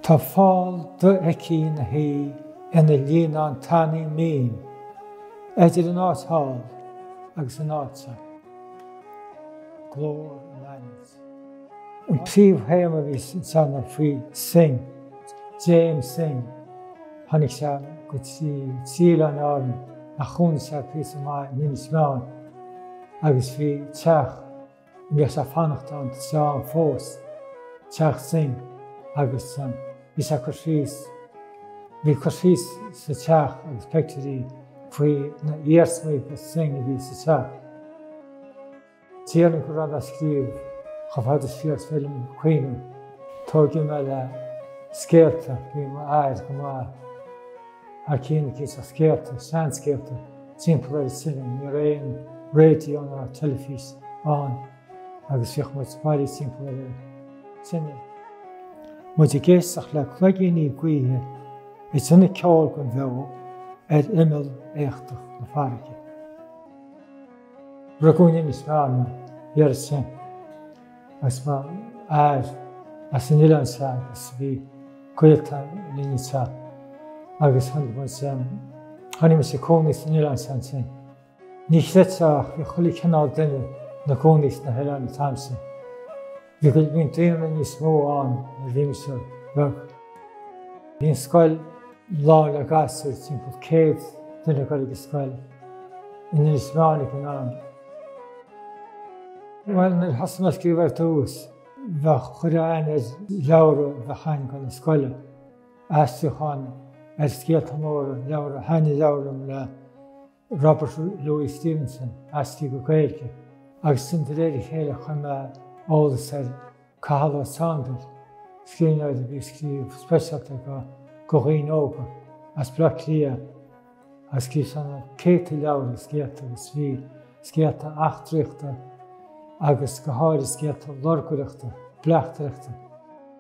Tá fál do-fheicthe ina shuí ina líonán tanaí mín eidir an áit thall agus an áit seo. Glór an adhmaid an príomhthéama a bhí sa teanga faoi Synge, James Synge. Tháinig sé go dtí trí Oileáin Árann ach chónaigh sé píosa maith in Inis Meáin agus bhí teach. Bhíodh sé ag fanacht ann teach an phoist, teach Synge, agus bhí sé ag cur síos, bhí cur síos sa teach agus pictiúirí faoi na iarsmaí de Synge a bhí sa teach. Déarfainn go raibh mé ag scríobh chomh fada siar is féidir liom cuimhneamh, tóigeadh mé le scéalta, bhí m'athair go maith. Ar cineál ag inseacht scéalta, seanscéalta, timpeall ar an tine, ní raibh aon raidió ná teilifís ann agus bhíodh muid bailithe timpeall ar an tine, muid ag éisteacht le cloigíní gaoithe ag déanamh ceoil gan bheo ar imeall éachtach na farraige. Rugadh in Inis Meáin mé, bhí air sin. is mo mháthair as an oileán seo agus bhí gaolta linn anseo agus tháinig muid, tháinig muid ag cónaí san oileán seo ansin. Ní chreidfeá ach bhí chuile chineál duine ina gcónaí sna hoileáin an t-am sin. Bhí go, bhí daonra níos mó ann nuair a bhí mise beag. Bhí an scoil. Lán le gasúir, timpeall céad duine ag dul ag an scoil in Inis Meáin ag an am. Bhuel, nuair a thosaigh mé ag scríobh ar dtús, bheadh chuir mé aithne ar leabhra a bheadh tháinig chun na scoile, aistriúchán ar scéalta móra, leabhar a thaitnigh leabhar liom le Robert Louis Stevenson, aistrithe go Gaeilge, agus ansin de réir a chéile chuir mé eolas ar Cathal Ó Sándair, scríbhneoir a bhí ag scríobh speisialta do dhaoine óga as Bleá Cliath agus scríobh sé na céadta leabhar agus scéalta agus bhí scéalta eachtraíochta agus go háirithe scéalta lorgaireachta, bleachtaireachta.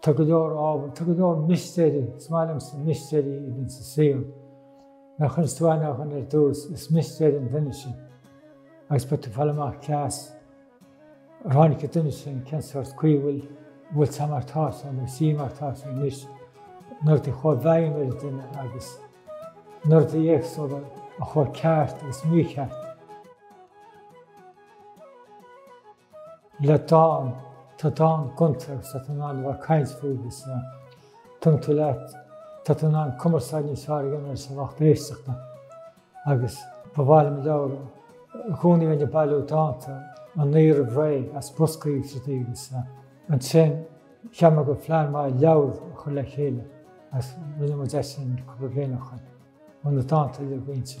Tá go leor ábhar, tá go leor mistéire, is maith liomsa mistéirí a bhíonn sa saol. Nuair a chuireas tú aithne ar dhuine ar dtús, is mistéir an duine sin. Agus beidh tú ag fáil amach cé as ar tháinig an duine sin, cén sórt caoi a bhfuil, a bhfuil sé mar tá sé nó sí mar tá sé anois, na rudaí a chuaigh i bhfeidhm ar an duine agus na rudaí éagsúla a chuaigh ceart agus mícheart. Le dán, tá dán gonta agus tá tú in ann a bheith ag caint faoi agus tugann tú leat, tá tú in ann cumarsáid níos fearr a dhéanamh leis an lucht éisteachta agus ba mhaith liom leabhar, i gcónaí bheinn ag bailiú dánta aníos, b'fhéidir, as boscaí agus rudaí agus ansin cheap mé gur phlean maith leabhar a chur le chéile agus rinne muid é ansin cúpla bliain ó shin, na dánta uilig roinnte.